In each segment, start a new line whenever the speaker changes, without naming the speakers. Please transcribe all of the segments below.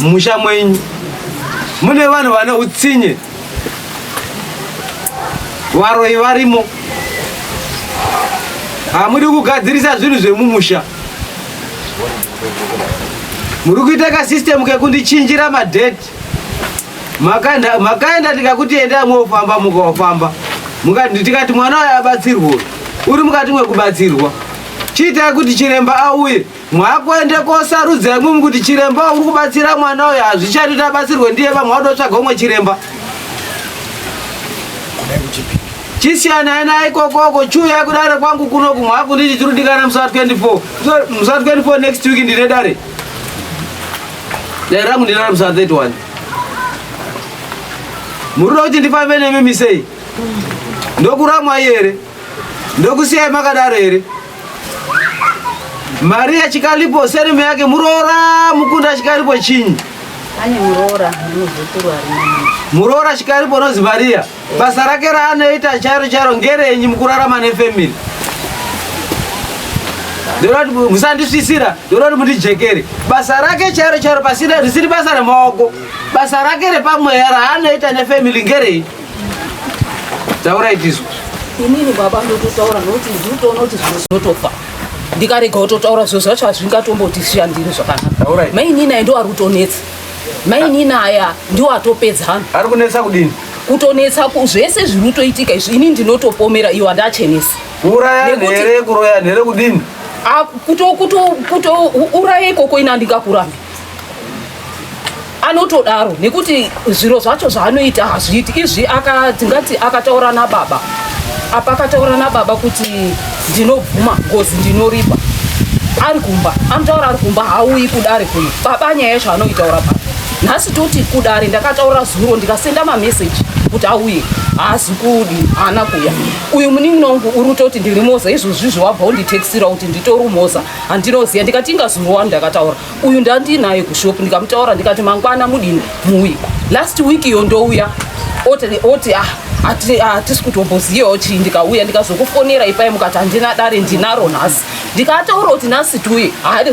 Mumusha mwenyu mune vanhu vane utsinye, varoyi varimo, hamudi kugadzirisa zvinhu zvemumusha muri kuita kasystemu kekundichinjira madheti makaenda ndikakuti endai mofamba mukafamba tikati mwana uyo abatsirwa uri mukati mwekubatsirwa chiitai kuti chiremba auye mwakuende kosarudza imwimwi kuti chiremba uri kubatsira mwana uyo hazvichati kuti abatsirwe ndiye vamwe wadotsvaga umwe chiremba chisiyanai naye ikokoko chiuyai kudare kwangu kuno kumwe akunditi chiri kudikana musa 24 musa 24 next week ndine dare dare rangu ndinaro musa 31 muri kuti ndifambe nemi misei ndokuramwai here ndokusiyai makadaro here Maria Chikalipo surname yake Murora Mukunda Chikalipo chinyi? Ane Murora
nemuzukuru
ari Murora Chikalipo unonzi Maria. Basa rake raanoita chairo chairo ngerenyi mukurarama nefamily? Ndoroti musandisvisira, ndoroti mundijekere. Basa rake chairo chairo pasina risiri basa remaoko. Basa rake repamweya raanoita nefamily ngerenyi? taurai tizwa inini baba
ndototaura nokuti ndinotoona kuti zvimwe zvinotofa ndikarega kutotaura zviro zvacho hazvingatombotishandiri zvakanaka mainini ayi ndo ari kutonetsa mainini aya ndiwo atopedzana ari kunetsa kudini
kutonetsa
zvese zviri kutoitika izvi ini ndinotopomera iwo andachenesa kuuraya nhere
kuroya nhere kudini
kutouraya ikoko ini andingakurambi anotodaro nekuti zviro zvacho zvaanoita hazviiti izvi ndingati akataura nababa apa akataura nababa kuti ndinobvuma ngozi ndinoripa ari kumba anotaura ari kumba haauyi kudare kuno baba nyaya yacho anoitaura baba nhasi toti kudare ndakataura zuro ndikasenda mameseji kuti auye haazi kudi haana kuya uyu munin'ina wangu uri kutoti ndiri moza izvozvizvi wabva unditexira kuti nditori moza handinoziva ndikati ingazuro wani ndakataura uyu ndandinaye kushop ndikamutaura ndikati mangwana mudini muuye last week iyo ndouya oti ah, hatisi ah, kutombozivawo chii ndikauya ndikazokufonera ipai mukati handina dare ndinaro nhasi ndikataura kuti nhasi tiuye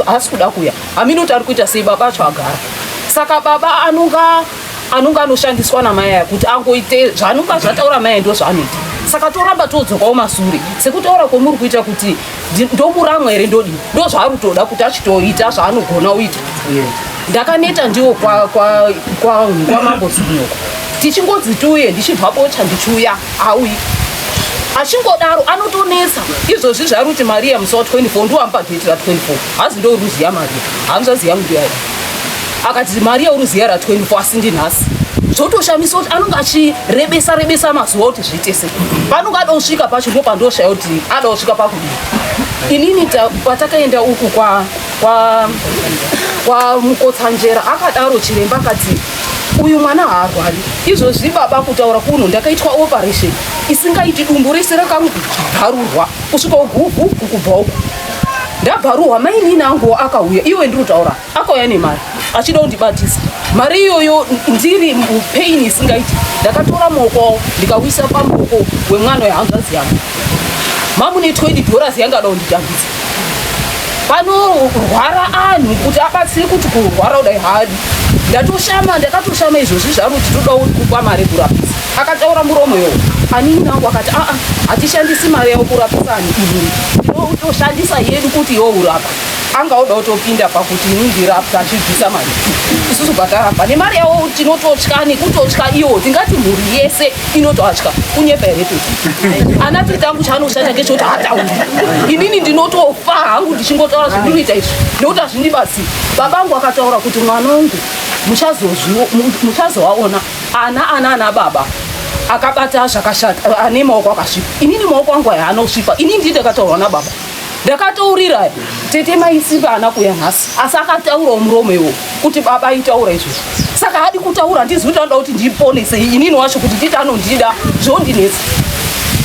haasi kuda kuuya hamini kuti ari kuita sei baba acho agara saka baba anonga anonga anoshandiswa namai aya kuti angoite zvanonga zvataura mai ndo zvaanoita saka toramba todzokawo masure sekutaura kwomuri kuita kuti ndokuramwa here ndodi ndo zvaari kutoda kuti achitoita zvaanogona uita ndakaneta ndiwo kwamambo zunoko tichingonzi tiuye ndichibva bocha ndichiuya auyi achingodaro anotonetsa izvozvi zvaari kuti maria musi wa 24 ndiwamupa geti ra 24 hazi ndoruziya maria hanzvaziya mudiyai akati mari yauri ziya ra 24 asi ndinhasi zvotoshamisa kuti anonge achirebesa rebesa mazuva kuti zviite sei panonge ada kusvika pacho ndo pandoshaya kuti ada kusvika pakudii inini patakaenda uku kwa kwa kwa mukotsanjera akadaro chiremba akati uyu mwana haarwari izvozvi baba kutaura kuno ndakaitwa operation isingaiti dumbu rese rakabharurwa kusvika uguvhu kukubva uku ndabharuhwa mainini anguwo akauya iwe ndiri kutaura akauya nemari achida kundibatisa mari iyoyo ndiri mupain isingaiti ndakatora moko ndikauisa pamoko wemwana wehanzvazi yangu mamune 20 dollars yanga ada kunditambisa panorwara anhu kuti abatsire kuti kurwara kudai hadi ndatoshama ndakatoshama izvozvi zvaruti toda kupa mari kurapisa akataura muromo yo anini nangu akati aa hatishandisi mari yao kurapisa ani ii ndinotoshandisa yedu kuti yourapa anga oda kutopinda pakuti inondirapta achibvisa mari isusu bvataramba nemari yavo tinototya nekutotya iwo tingati mhuri yese inotoatya kunyepa here toti ana tiri tangu chaanoshanya ngechekuti hatauri inini ndinotofa hangu ndichingotaura zvandinoita izvi nekuti hazvindibasi baba angu akataura kuti mwana wangu muchazoaona ana ana ana baba akabata zvakashata ane maoko akasvipa inini maoko angu aya anosvipa inini ndii ndakataurwa nababa ndakataurira tete maisimba ana kuya nhasi asi akataurawo muromo iwo kuti baba aitaura izvozvo saka adi kutaura handizi kuti anoda kuti ndiponese inini wacho kuti tete anondida zvondinetsa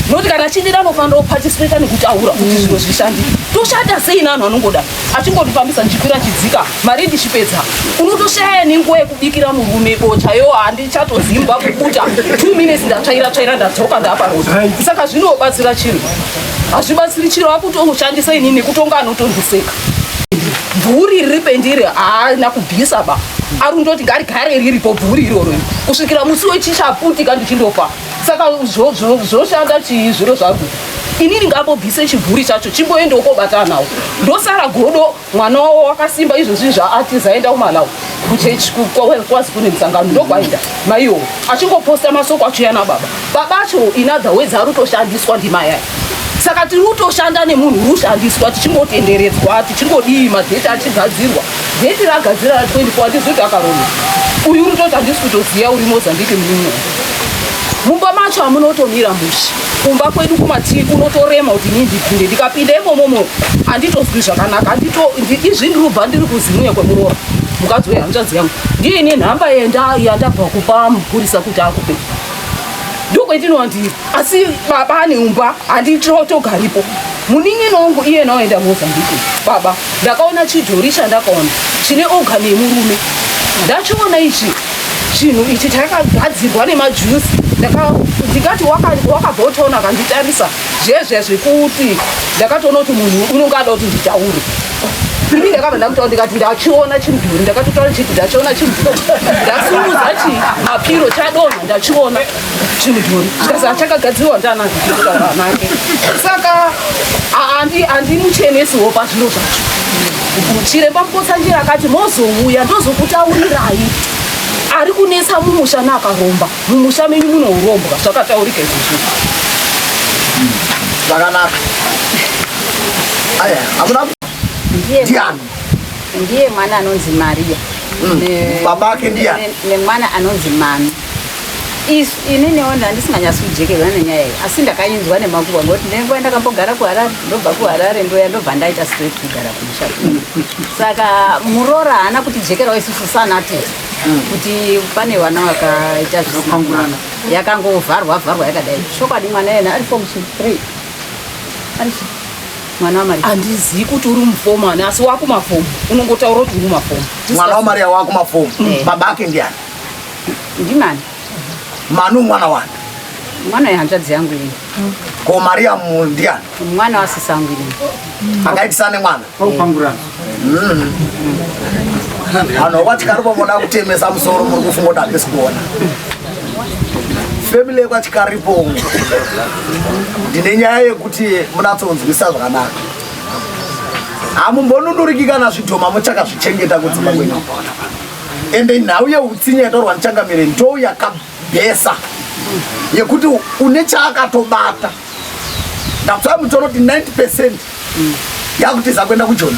nokuti kana achindida anofanira kupatisipeta nekutaura kuti zviro zvishandike toshata sei nanhu anongoda achingondifambisa ndichikwira chidzika mari ndichipedza unotoshaya nenguva yekubikira murume bocha yo handichatozimbwa kukuta two minutes ndatsvaira tsvaira ndadzoka ndaaparoda saka zvinobatsira chinhu hazvibatsiri chiro vakutoshandisa ini nekutonga anotondiseka bvuri riri pendiri haana kubvisa ba ari kundoti ngarigare riripo bvuri iroro kusvikira musi wechichaputika ndichindofa saka zvoshanda chii zviro zvaku inini ngambobvise chibvuri chacho chimboendewo kobatanawo ndosara godo mwana wavo wakasimba izvozvi zvaatiza aenda kumalawi kuchechi kwazi kune musangano ndokwaenda maiwo achingoposta masoko acho yana baba baba acho inother ways ari kutoshandiswa ndimayai saka tiri kutoshanda nemunhu uri kushandiswa tichingotenderedzwa tichingodii madheti achigadzirwa dheti ragadzira ra 24 handizoti akarona uyu uri toti handisi kutoziva uri mozambique muno mumba macho hamunotomira musha kumba kwedu kumativi kunotorema kuti inii ndipinde ndikapinda imomomo handitozwi zvakanaka handito izvi ndirubva ndiri kuzimuya kwemuroora mukadzi wehanzvadzi yangu ndiye ine nhamba yandabva kupa mupurisa kuti akupe ndokwetinova ndiri asi baba ane umba handitotogaripo munin'ina wangu iye naoenda mozambique baba ndakaona chidhori chandakaona chine oga nemurume ndachiona ichi chinhu ichi chakagadzirwa nemajusi ndikati wakabva utaona akanditarisa zvezve zvekuti ndakatoona kuti munhu unonge ada kuti nditaure ini ndakabva ndamutaura ndikati ndachiona chimudhuri ndakatotaura chiti ndachiona chimudhuri ndasunguza chi mapiro chadonha ndachiona chimudhori chikazi achakagadzirwa ndianake saka andimuchenesi hopa zviro zvacho chiremba mukotsanjira akati mozouya ndozokutaurirai ari kunetsa mumusha naakaromba mumusha menyu munourombwa zvakataurika izvozvo zvakanaka
ndiani ndiye
mwana anonzi maria mm.
babake ndiani nemwana anonzi
mami Is, ini newo ndandisinganyasi kujekerwa nenyaya iyi asi ndakainzwa nemakuva ngokuti nenguva ndakambogara kuharare ndobva kuharare ndoya ndobva ndaita straight kugara kumusha saka muroora haana kutijekerawo isusu sanati kuti pane vana vakaita zvisinapangurana yakangovharwa vharwa yakadai chokwadi mwana yena ari form three ari mwana wamari handizivi kuti uri
mufomani asi wakumafomu unongotaura kuti uri mafomu mwana wamari
wakumafomu eh. baba ake ndiani Ndimani? Manu mwana wani? Mwana yehanzvadzi
yangu ini. Ko Mariamu
ndiani? Mwana wasisi
angu ini. Akaitisa nemwana?
Paupangurana.
Mm.
Vanhu vatikaripo voda kutemesa musoro muri kufunga kuti handisi kuona. Family yekwatikaripo ndine nyaya yekuti munatsonzwisa zvakanaka. Hamumbonunuriki kana zvidhoma muchakazvichengeta kudzimba kwenyu. ende nhau yeutsinye yataurwa ndichangamire ndo yakabhesa yekuti une chaakatobata ndakutsvaa mutoro kuti 90 percent yakutiza kuenda kujoni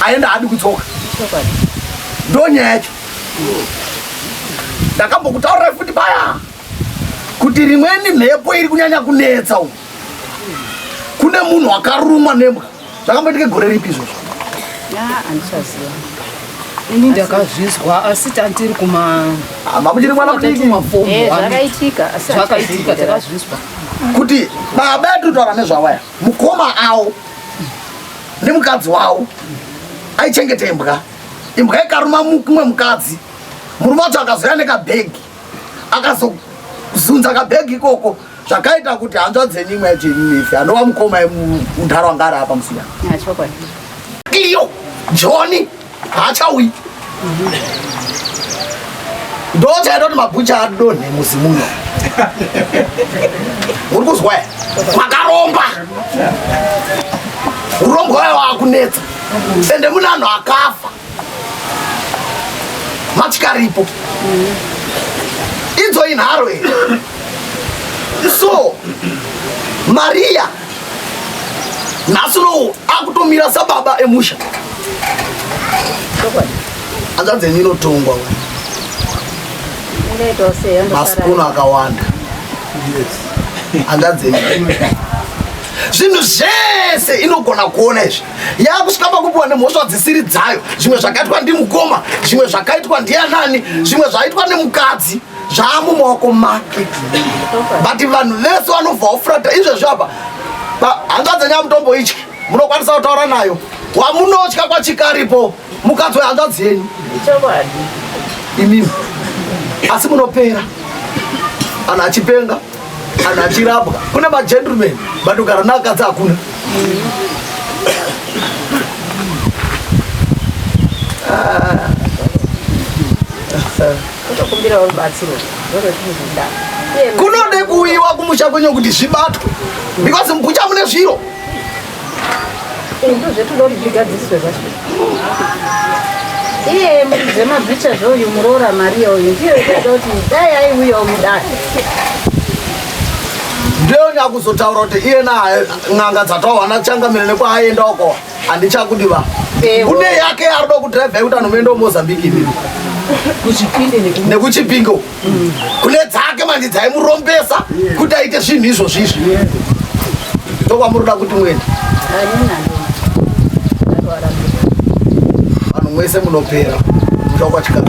aenda haadi kudzoka ndo nyaya yacho ndakambokutaurirai futi paya kuti rimweni mhepo iri kunyanya kunetsa u kune munhu akarumwa nembwa zvakamboitike gore ripi izvozvo andichaziva
ini ndakazvizwa asi tandiri kumamuchiri
ah, mwana mudikiakaitika eh,
takazvizwa kuti
baba yatitaura nezvawaya mukoma awo nemukadzi wawo aichengete imbwa imbwa ikaruma mumwe mukadzi murume wacho akazouya nekabhegi akazozunza kabhegi ikoko zvakaita kuti hanzva dzenyu imwe yacho ini nefi anova mukoma mudhara wanga ari apa musina iyo joni haachauyi ndochaita kuti mabhucha adonhe muzi muno uri kuzwa ya makaromba urombwa wayo wakunetsa ende mune anhu akafa matyaripo idzo inharo here so mariya nhasi unowu akutomira sababa emusha hanzvadzi yenyu inotongwa masipunu akawanda hanzvadzi yenyu zvinhu zvese inogona kuona izvi yakusvika pakupiwa nemhosva dzisiri dzayo zvimwe zvakaitwa ndimukoma zvimwe zvakaitwa ndianani zvimwe zvaitwa nemukadzi zvaamumaoko make but vanhu vese vanobva wafurata izvezvi apa hanzva dzenyamutombo ityi munokwanisa kutaura nayo wamunotya kwachikaripo mukadzi wehanzva dzenyu imimi asi munopera kana achipenga kana achirapwa kune magentleman but ugara naakadzi hakuna
kunode
kuuyiwa kumusha kwenyu kuti zvibatwe because mukucha mune zviro
iye zvemabhicha zvouyu muroora maria uyu ndiyo itoda kuti dai aiuyawo mudare
ndiyo nyakuzotaura kuti iye na n'anga dzatawana changamire nekwaaenda uko handichakudiva kune yake arida kudrive yekuti anomuenda mozambique nekuchipingo kune dzake manje dzaimurombesa kuti aite zvinhu izvozvo izvi ndokwamuroda kuti muende vanhu mwese munopera muda kwachikara